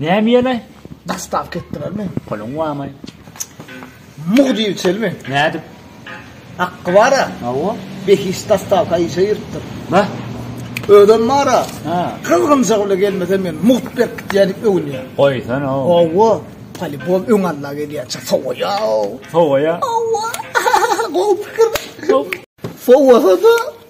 Näme ýene? Dastavka etdilermi? Puluň barmy? Muh diýip çelmi? Nädip? Haqqy bar-a? Hawa. Behişt dastavka işe giripdir. Bah. Özem bar-a. Ha. Gyzgynjak bile gelmese men mugt berkitýän diýip öwünýär. Goýsana. Hawa. Polibol öň alla gelýänçä sowaýa. Sowaýa. Hawa. Gowy pikir. Sowasa-da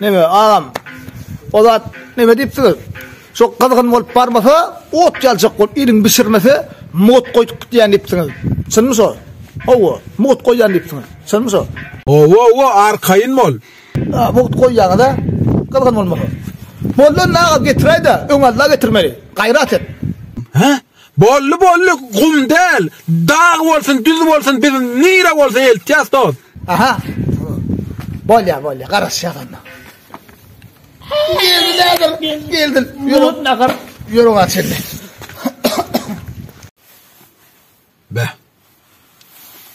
Neme agam? O zat neme diýipsiňiz? Şu gyzgyn bolup barmasa, ot ýaljak bolup iliň bişirmese, mut goýup gitýän diýipsiňiz. Çynmy şo? Hawa, mut goýýan diýipsiňiz. Çynmy şo? Hawa, hawa, arkaýyn bol. Ha, mut goýýaňyz-a? Gyzgyn bolmasa. Boldy onda agam, getiräý-de, öňe Alla getirmeli. Gaýrat et. Hä? Boldy boldy gum däl dag bolsun düz bolsun biz nire bolsa eltýas dost. Aha. Bolýa bolýa garaşýas onda. Geldi nädir geldi. Ýurut nahar. Ýurut açyldy. Be.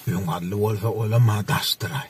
Öň ally bolsa olam ha daşdyraý.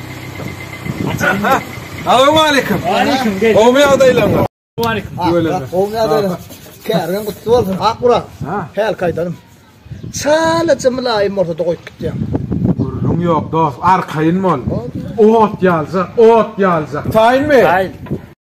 Assalamualaikum. Gowmy ýagdaýlaryňyz? Gowmy ýagdaýlaryň? Kärgem gutly bolsun. Akburak. Häl gaýdalym. Çalaja mylaýym bolsa da goýup gitýäň. Gürrüň ýok dost, arkaýyn bol. Ot ýaljak, ot ýaljak. Taýynmy? Taýyn.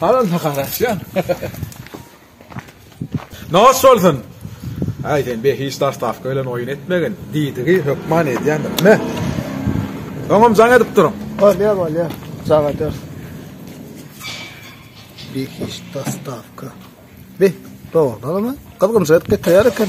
Halal mı karaşyan? Nos olsun. Ay sen be hiç dastavka bilen oyun etmegin. Didigi hökman edyandım. Ne? Oňam jaň edip durun. Bolýar, bolýar. Jaň eder. Bir hiç dastavka. Be, doğrudan ama. Kızgın zet getirer eken.